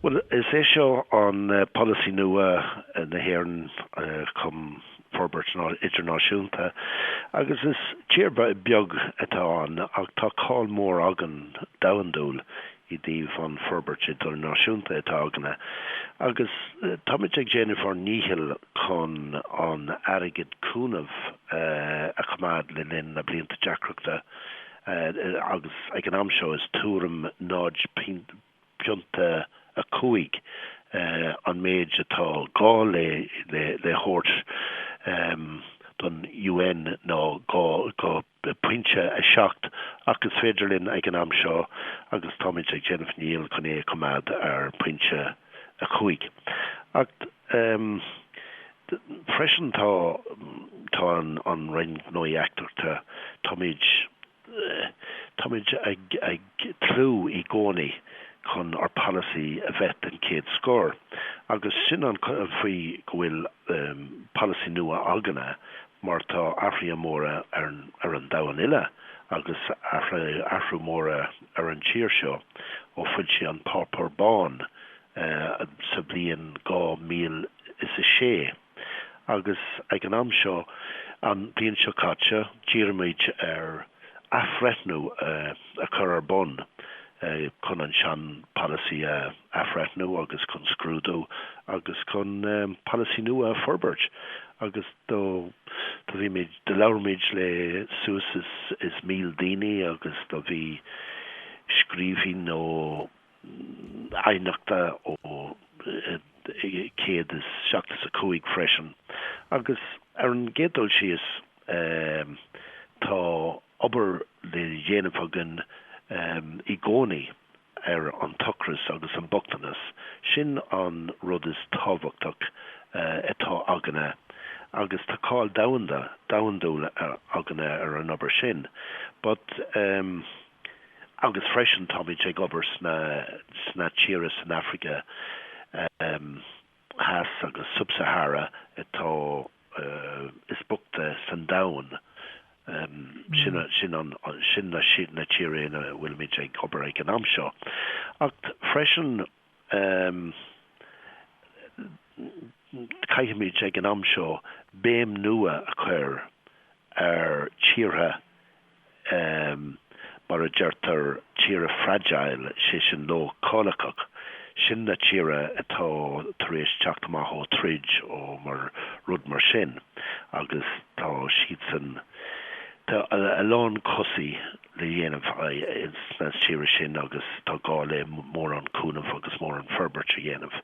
Bhuel, is é seo an polasaí nua na hÉireann chum forbairt idirnáisiúnta agus is tír beag atá ann ach tá cáil mór againn domhandúil i dtaobh an forbairt idirnáisiúnta atá againne agus táimid ag déanamh ár ndícheall chun an airgead cúnaimh a choimeád le linn na blianta deacrachta agus ag an am seo is tuairim náid pointe 5, an méid atá gá le thabhairt don UN ná pointe 7, ach is féidir linn ag an am seo, agus táimid ag déanamh ndícheall chun é a choimeád ar phointe 5. Ach freisin tá, tá an Roinn Gnóthaí Eachtrachta, táimid. Táimid ag tnúth i gcónaí chun ár polasaí a bheith den chéad scoth agus sin an fáth go bhfuil polasaí nua againne mar tá athruithe móra ar an domhan uile agus athrú mór ar an tír seo ó foilsíodh an Páipeár Bán sa bhliain 2006. agus ag an am seo an bhliain seo caite dírímid ar athbhreithniú a chur ar bun chun an sean polasaí a athbhreithniú agus chun scrúdú agus chun polasaí nua a forbairt agus do bhímid, do labhraímid le suas is míle daoine agus do bhí scríbhinn nó. aighneachta ó céad is seasca is a cúig freisin agus ar an gcéad dul síos tá obair le dhéanamh againn i gcónaí ar an t-ocras agus an bochtanas, sin an rud is tábhachtach atá againne agus tá cáil domhanda, domhandúil againne ar an obair sin but. agus freisin táimid ag obair sa, sna tíortha san Afraic Theas agus Sub-Sahara atá is boichte san domhan. Sin na tíortha ina bhfuilimid ag obair ag an am seo. Ach freisin caithfimid ag an am seo béim nua a chur ar tíortha mar a deirtear, tíre fragile, sé sin leochaileach, sin na tíre atá tar éis teacht amach ó troid ó mar rud mar sin agus tá siadsan, tá a lán cúiseanna le dhéanamh sna tíre sin agus tá gá le mórán cúnamh agus mórán forbairt a dhéanamh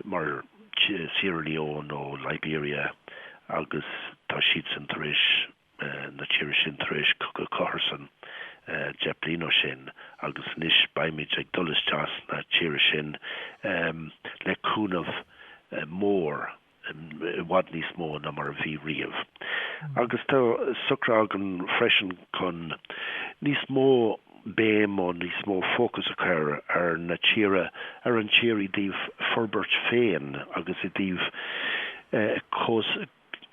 mar Sierra Leone nó Liberia agus tá siadsan tar éis na tíre sin tar éis cogadh cathartha deich bliain ó shin agus anois beimid ag dul isteach sna tíre sin le cúnamh mór i bhfad níos mó ná mar a bhí riamh agus tá socraithe againn freisin chun níos mó béim nó níos mó fócas a chur ar na tíre ar an tír i dtaobh forbairt féin agus i dtaobh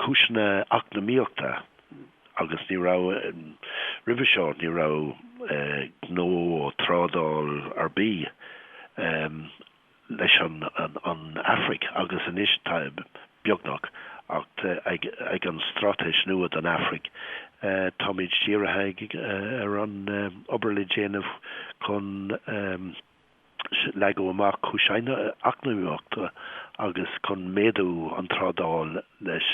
cúiseanna eacnamaíochta agus ní raibh, roimhe seo, ní raibh gnó nó trádáil ar bith leis an Afraic agus anois tá, beagnach, ach ag an straitéis nua don Afraic táimid dírithe ar an obair le déanamh chun. leagan amach cúiseanna eacnamaíochta agus chun méadú an trádáil leis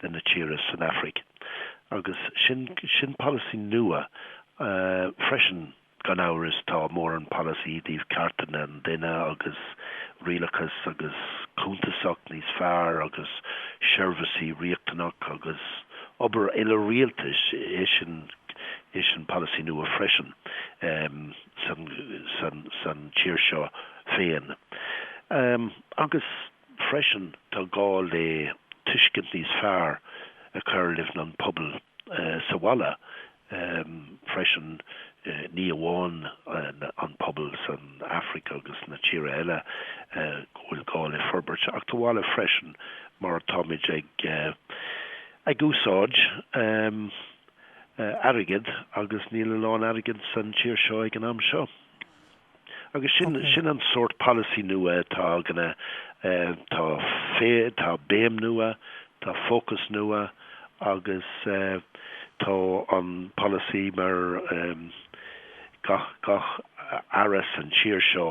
na tíre san Afraic agus sin sin polasaí nua freisin gan amhras tá mórán polasaí i dtaobh cearta an duine agus rialachas agus cuntasacht níos fearr agus seirbhísí riachtanach agus obair eile rialtais é sin é sin polasaí nua freisin. san tír seo féin agus freisin tá gá le tuiscint níos fearr a chur leis an pobal sa bhaile freisin ní amháin an pobal san Afraic agus na tíre eile go bhfuil gá le forbairt ach sa bhaile freisin mar táimid ag ag úsáid airgid agus níl a lán airgid san tír seo ag an am seo. Agus sin an sórt polasaí nua atá againne eh, tá, tá béim nua, tá fócas nua agus eh, tá an polasaí mar em, gach, gach Aire san tír seo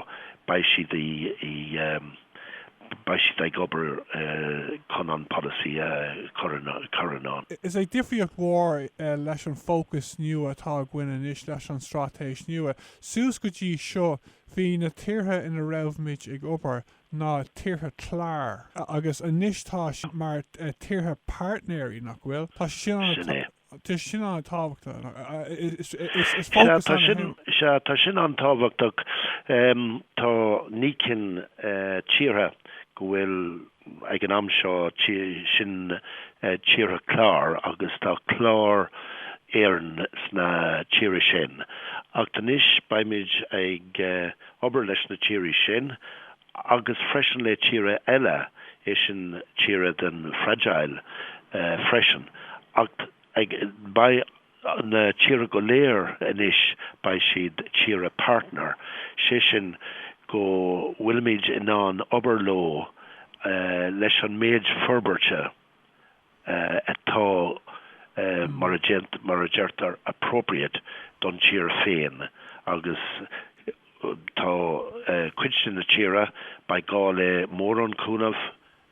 beidh siad i, i em, beidh siad ag obair chun an polasaí a chur i ndán. Is é difríocht mhór leis an fócas nua atá againn anois leis an straitéis nua, suas go dtí seo bhí na tíortha ina raibhimid ag obair ná tíortha cláir, agus anois tá siad mar tíortha páirtnéirí, nach bhfuil? Tá sé sin an-. Sin é. Tá sin an-tábhachtach. Tá naoi cinn tíortha go bhfuil, ag an am seo, sin tíortha clár agus tá clár Éireann sna tíre sin. Ach anois beimid ag obair leis na tíre sin agus freisin le tíre eile, é sin tíre den Fragile freisin, ach beidh na tíre go léir anois, beidh siad tíre partner, sé sin go bhfuilimid in ann obair leo leis an méid forbairte atá, mar a deirtear, appropriate don tír féin agus tá cuid de na tíre, beidh gá le mórán cúnamh,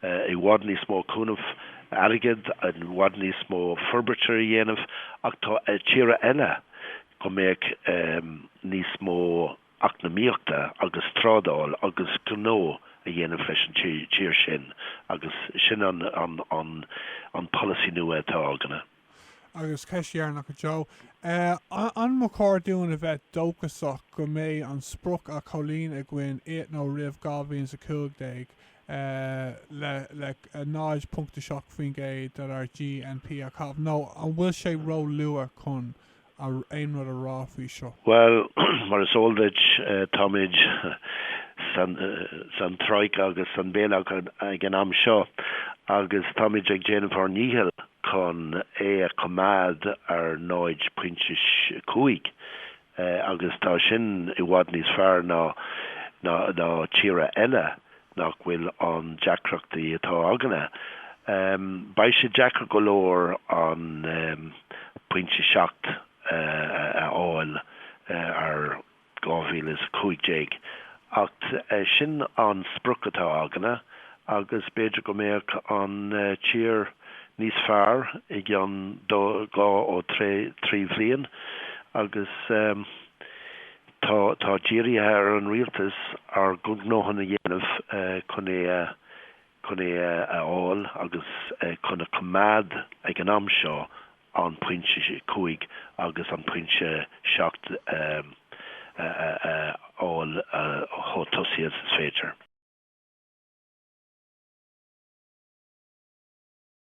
i bhfad níos mó cúnamh airgid, i bhfad níos mó forbairte a dhéanamh ach tá tíre eile go mbeadh níos mó. eacnamaíochta agus trádáil agus gnó a dhéanamh leis an tír sin agus sin an polasaí nua atá againne. Agus ceist dheireanach a Joe. An mba chóir dúinn a bheith dóchasach go mbeidh an sprioc á chomhlíonadh againn i nó roimh 2015 le 0.7% dár GNP a chaitheamh nó an bhfuil sé róluath chun aon rud a rá faoi seo? Bhuel, mar is eol duit, táimid san troika agus san bailout ag an am seo agus táimid ag déanamh ár ndícheall chun é a choimeád ar 0 pointe 's 5 agus tá sin i bhfad níos fearr ná tíre eile. nach bhfuil an deacrachtaí atá againne. Beidh sé deacair go leor an pointe 7 a fháil ar 2015 ach sin an sprioc atá againne agus b'fhéidir go mbeadh an tír níos fearr i gceann dhá nó trí bhliain agus Tá tá dírithe ar an Rialtas ár gcuid gnóthaí a dhéanamh chun é a chun é a a fháil agus chun a choimeád ag an am seo an pointe 5 agus an pointe 7 a a a a fháil chomh tosaí is féidir.